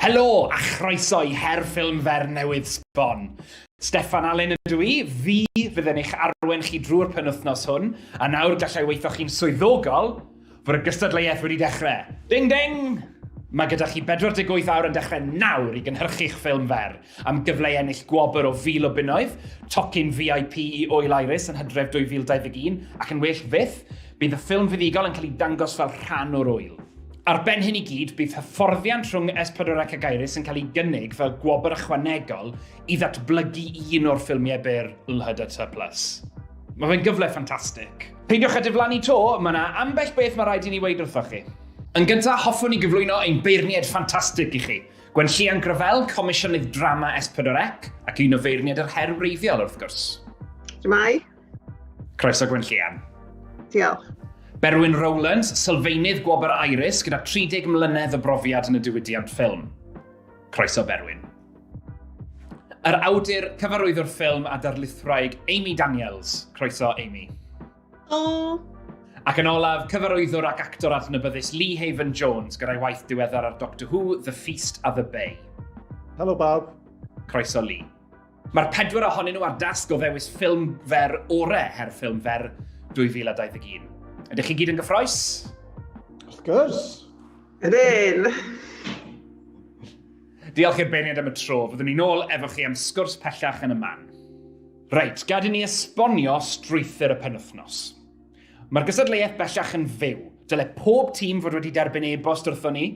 Helo a chroeso i her ffilm fer newydd sbon. Steffan Allen ydw i, fi fydd yn eich arwen chi drwy'r penwthnos hwn, a nawr gallai weithio chi'n swyddogol fod y gystadleuaeth wedi dechrau. Ding ding! Mae gyda chi 48 awr yn dechrau nawr i gynhyrchu'ch ffilm fer. Am gyfle i ennill gwobr o fil o bunnoedd, tocyn VIP i Ŵyl Iris yn hydref 2021, ac yn well fyth, bydd y ffilm fuddugol yn cael ei dangos fel rhan o'r ŵyl. Ar ben hyn i gyd, bydd hyfforddiant rhwng S4C ac Iris yn cael ei gynnig fel gwobr ychwanegol i ddatblygu un o'r ffilmiau byr LHDT Plus. Mae fe'n gyfle ffantastig. Peidiwch â diflannu 'to, mae 'na ambell beth mae rhaid i ni weud wrthoch chi. Yn gyntaf, hoffwn i gyflwyno ein beirniaid ffantastig i chi. Gwenllian Gravell, Comisiynydd Drama S4C, ac un o feirniaid yr her wreiddiol, wrth gwrs. Shwmae. Croeso Gwenllian. Diolch. Berwyn Rowlands, sylfaenydd Gwobr Iris gyda 30 mlynedd o brofiad yn y diwydiant ffilm. Croeso Berwyn. Yr awdur, cyfarwyddwr ffilm a darlithwraig Amy Daniels. Croeso Amy. O! Ac yn olaf, cyfarwyddwr ac actor adnabyddus Lee Haven Jones gyda'i waith diweddar ar Doctor Who, The Feast of the Bay. Helo bawb. Croeso Lee. Mae'r pedwar ohonyn nhw ar dasg o ddewis ffilm fer orau her ffilm fer 2021. Ydych chi gyd yn gyffroes? Wrth gwrs. Ydyn! Diolch i'r beirniad am y tro, fyddwn ni'n ôl efo chi am sgwrs pellach yn y man. Reit, gad i ni esbonio strwythur y penwythnos. Mae'r gystadleuaeth bellach yn fyw. Dyle pob tîm fod wedi derbyn e-bost wrthon ni,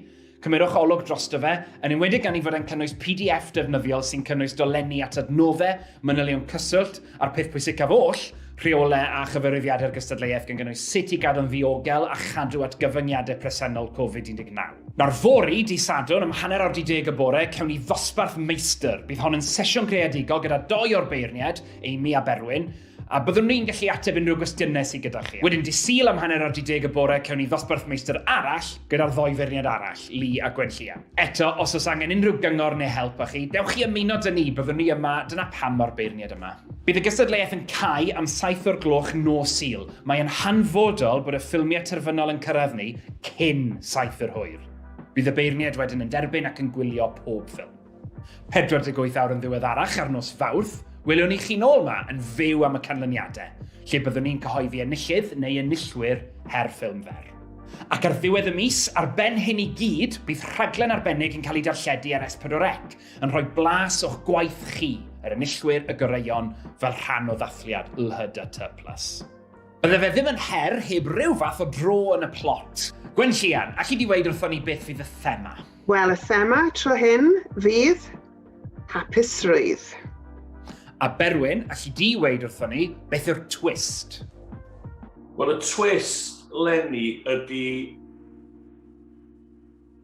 Cymyrwch olwg drosto fe, yn enwedig gan ei fod e'n cynnwys pdf defnyddiol sy'n cynnwys dolenni at adnoddau, manylion cyswllt, A'r peth pwysicaf oll, rheolau a chyfarwyddiadau'r gystadleuaeth gan gynnwys sut i gadw'n ddiogel a chadw at gyfyngiadau presennol Covid-19. Nawr fory, dydd Sadwrn, am hanner awr 10 y bore, cewn ni ddosbarth meistr. Bydd hon yn sesiwn greadigol gyda dou o'r beirniaid, Amy a Berwyn, a byddwn ni'n gallu ateb unrhyw gwestiynau sydd gyda chi. Wedyn dydd Sul am hanner awr 10 y bore, cewn ni ddosbarth meistr arall gyda'r ddou feirniaid arall, Lee a Gwenllian. Eto, os oes angen unrhyw gyngor neu help â chi, dewch i ymuno dyn ni, byddwn ni yma, dyna pam mor beirniad yma. Bydd y gystadleuaeth yn cau am saith o'r gloch nos Sul. Mae yn hanfodol bod y ffilmiau terfynol yn cyrraedd ni cyn saith yr hwyr. Bydd y beirniaid wedyn yn derbyn ac yn gwylio pob ffilm. 48 awr yn ddiweddarach ar nos Fawrth, welwn ni chi'n ôl yma yn fyw am y canlyniadau, lle byddwn ni'n cyhoeddi enillydd neu enillwyr her ffilm fer. Ac ar ddiwedd y mis, ar ben hyn i gyd, bydd rhaglen arbennig yn cael ei darlledu ar S4C, yn rhoi blas o'ch gwaith chi, yr enillwyr y goreuon, fel rhan o ddathliad LHDT Plus. Bydde fe ddim yn her heb ryw fath o dro yn y plot. Gwenllian, alli di weud wrthon ni beth fydd y thema? Wel, y thema tro hyn fydd Hapusrwydd. A Berwyn, allu di weid wrthon ni, beth yw'r twist? Wel, y twist, Lenny, ydy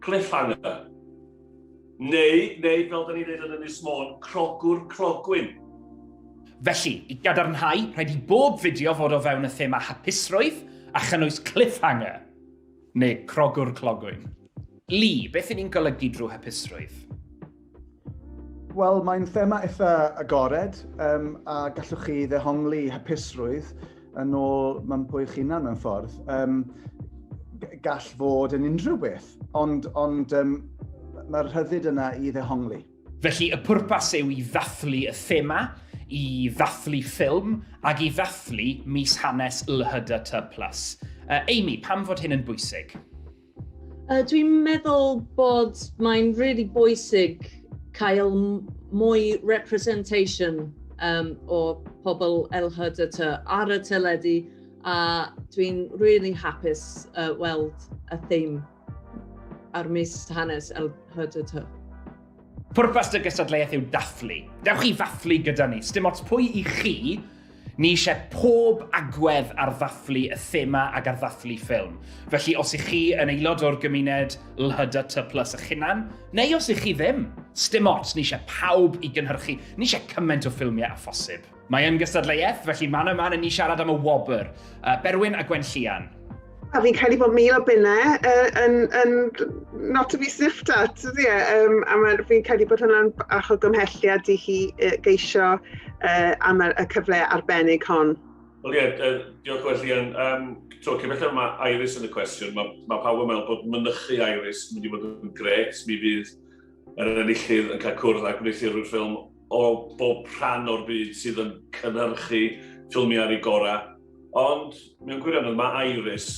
cliffhanger. Neu, neu, fel da ni'n dweud yn Ynys Môn, crogwr crogwyn. Felly, i gadarnhau, rhaid i bob fideo fod o fewn y thema hapusrwydd a chynnwys cliffhanger. Neu crogwr clogwyn. Li, beth y'n ni'n golygu drwy hapusrwydd? Wel, mae'n thema eitha agored, um, a gallwch chi ddehongli hapusrwydd yn ôl mae'n pwy chi'n hunan mewn ffordd. Um, gall fod yn unrhyw beth, ond, ond um, mae'r rhyddid yna i ddehongli. Felly y pwrpas yw i ddathlu y thema, i ddathlu ffilm ac i ddathlu mis hanes LHDT+. Uh, Amy, pam fod hyn yn bwysig? Uh, Dwi'n meddwl bod mae'n really bwysig cael mwy representation um, o pobl LHDT ar y teledu a dwi'n really hapus uh, weld y theme. ar mis hanes LHDT. Pwrpas dy gystadleuaeth yw dathlu. Dewch i ddathlu gyda ni. Sdim ots pwy i chi, ni eisiau pob agwedd ar ddathlu y thema ag ar ddathlu ffilm. Felly os ych chi yn aelod o'r gymuned LHDT plus y chynan, neu os ych chi ddim, sdim ots, ni eisiau pawb i gynhyrchu, ni eisiau cymaint o ffilmiau a phosib. Mae yn gystadleuaeth, felly man yma yn ni siarad am y wobr. Uh, Berwyn a Gwen Llian. A fi'n credu bod mil o bunnau uh, yn, yn not to be sniffed at, ydy e? Um, a mae, fi'n credu bod hwnna'n bach o gymhelliad i chi uh, geisio uh, am y cyfle arbennig hon. Wel ie, uh, diolch well Ian. Um, so, cymell yma Iris yn y cwestiwn, mae ma pawb yn meddwl bod mynychu Iris yn mynd i fod yn gret, mi fydd yr enillydd yn cael cwrdd â gwneuthurwyr ffilm o bob rhan o'r byd sydd yn cynhyrchu ffilmiau ar ei gorau, ond mewn gwirionedd mae Iris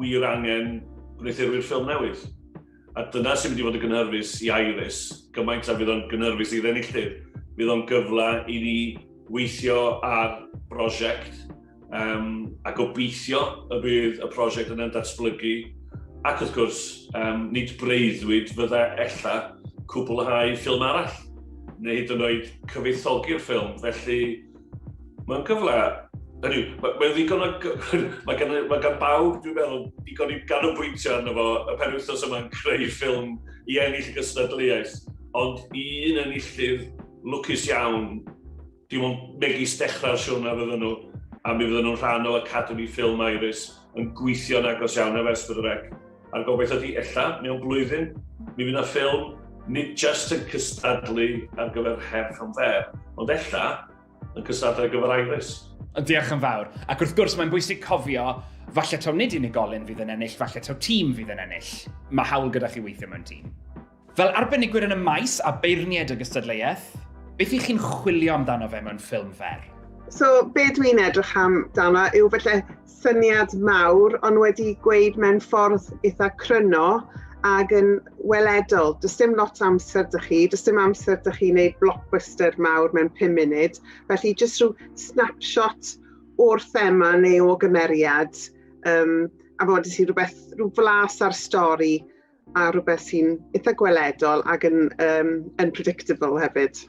wir angen gwneuthurwyr ffilm newydd. A dyna sy'n mynd i fod yn gynhyrfus i Iris, gymaint â fydd o'n gynhyrfus i'r enillydd. Fydd o'n gyfle i ni weithio ar brosiect Um, a gobeithio y bydd y prosiect yn datblygu ac wrth gwrs, um, nid breuddwyd fydda ella cwblhau ffilm arall, neu hyd yn oed cyfeithogi'r ffilm. Felly, mae'n gyfle. Hynny yw, mae, mae ddigon o... mae, gan, mae gan bawb, dwi'n meddwl, digon i ganolbwyntio arno fo y pen wythnos yma'n creu ffilm i ennill y gystadleuaeth. Ond un enillydd lwcus iawn Dim ond megis dechrau'r siwrne fydden nhw, a mi fydden nhw'n rhan o Academi Ffilm Iris, yn gweithio'n agos iawn ef ers bod yr ec. A'r gobaith ydi, ella, mewn blwyddyn, mi fydd 'na ffilm nid jyst yn cystadlu ar gyfer Her Film Fair, ond ella yn cystadlu ar gyfer Iris. Ond diolch yn fawr. Ac wrth gwrs, mae'n bwysig cofio, falle taw nid unigolyn fydd yn ennill, falle taw tîm fydd yn ennill. Mae hawl gyda chi weithio mewn tîm. Fel arbenigwyr yn y maes a beirniaid y gystadleuaeth, beth i chi'n chwilio amdano fe mewn ffilm fer? So, be dwi'n edrych am dano yw felly syniad mawr, ond wedi gweud mewn ffordd eitha cryno ac yn weledol. Does dim lot amser dych chi, does dim amser dych chi wneud blockbuster mawr mewn 5 munud, felly jyst rhyw snapshot o'r thema neu o gymeriad, um, a fod i ti rhywbeth, rhyw flas ar stori, a rhywbeth sy'n eitha gweledol ac yn um, unpredictable hefyd.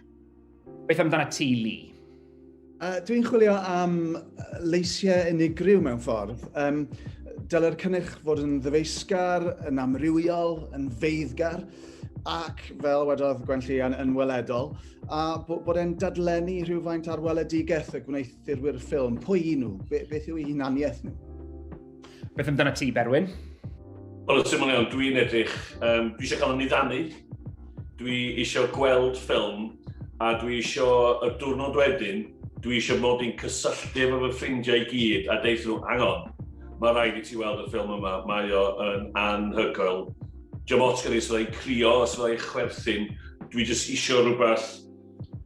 Beth amdana ti, Lee? Uh, Dwi'n chwilio am leisiau unigryw mewn ffordd. Um, Dyle'r cynnyrch fod yn ddyfeisgar, yn amrywiol, yn feiddgar ac, fel wedodd Gwenlli, yn, yn weledol, a bod e'n dadlennu rhywfaint ar weledigaeth y gwneithurwyr ffilm. Pwy i nhw? Be, beth yw eu hunaniaeth nhw? Beth amdana ti, Berwyn? Wel, y syml iawn, dwi'n edrych, um, dwi eisiau cael yn niddanu, dwi eisiau gweld ffilm, a dwi eisiau y diwrnod wedyn, dwi eisiau mod i'n cysylltu efo fy ffrindiau i gyd a deitha nhw, angon, mae rhaid i ti weld y ffilm yma, mae o yn anhygoel. Diolch ots gyda'i sydd ei crio, sydd ei chwerthin, dwi jyst eisiau rhywbeth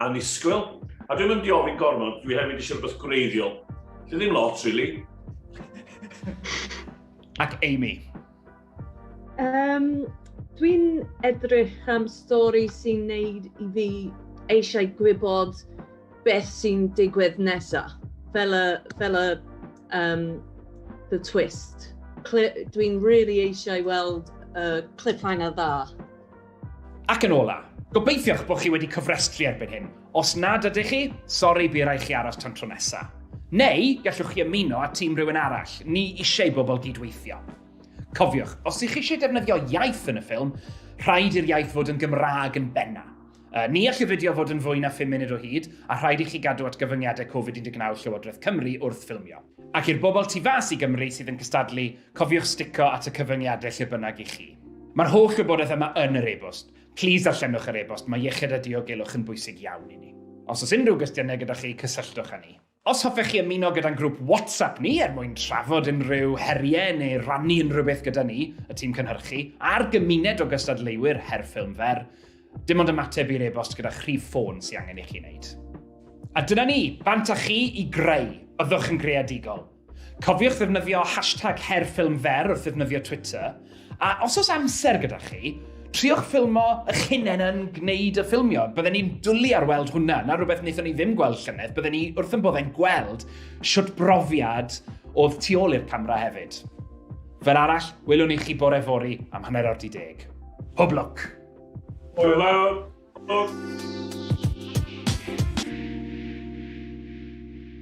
Annisgwyl. A dwi'n mynd i ofyn gormod, dwi hefyd eisiau rhywbeth gwreiddiol. Dwi ddim lot, really. Ac Amy? Um, dwi'n edrych am stori sy'n neud i fi eisiau gwybod beth sy'n digwydd nesaf. Fel y, fel y um, the twist. Dwi'n really eisiau weld uh, cliffhanger dda. Ac yn ola, gobeithiwch bod chi wedi cofrestru erbyn hyn. Os nad ydych chi, sori bu rai chi aros tan tro nesa. Neu, gallwch chi ymuno â tîm rhywun arall, ni eisiau bobl gydweithio. Cofiwch, os ych chi eisiau defnyddio iaith yn y ffilm, rhaid i'r iaith fod yn Gymraeg yn benna. Uh, ni all y fideo fod yn fwy na 5 munud o hyd, a rhaid i chi gadw at gyfyngiadau Covid-19 Llywodraeth Cymru wrth ffilmio. Ac i'r bobl tu fas i Gymru sydd yn cystadlu, Cofiwch stico at y cyfyngiadau lle bynnag i chi. Mae'r holl wybodaeth yma yn yr e-bost. Plis darllenwch yr e-bost, mae iechyd a diogelwch yn bwysig iawn i ni. Os oes unrhyw gwestiynau gyda chi, cysylltwch â ni. Os hoffech chi ymuno gyda'n grŵp WhatsApp ni er mwyn trafod unrhyw heriau neu rannu unrhyw beth gyda ni, y tîm cynhyrchu, a'r gymuned o gystadleuwyr her ffilm fer, dim ond ymateb i'r e-bost gyda'ch rhif ffôn sy'n angen i chi wneud. A dyna ni, bant â chi i greu! Byddwch yn greadigol! Cofiwch ddefnyddio hashtag HerFilmFer wrth ddefnyddio Twitter, a os oes amser gyda chi, triwch ffilmo eich hunain yn gwneud y ffilmio. Bydden ni'n dwlu ar weld hwnna, na rhywbeth wnaethon ni ddim gweld llynedd. Bydden ni wrth yn boddau'n gweld siwt brofiad oedd tu ôl i'r camera hefyd. Fel arall, welwn i chi bore fori am hanner awr di deg. Hwb lwc! Hwyl fawr!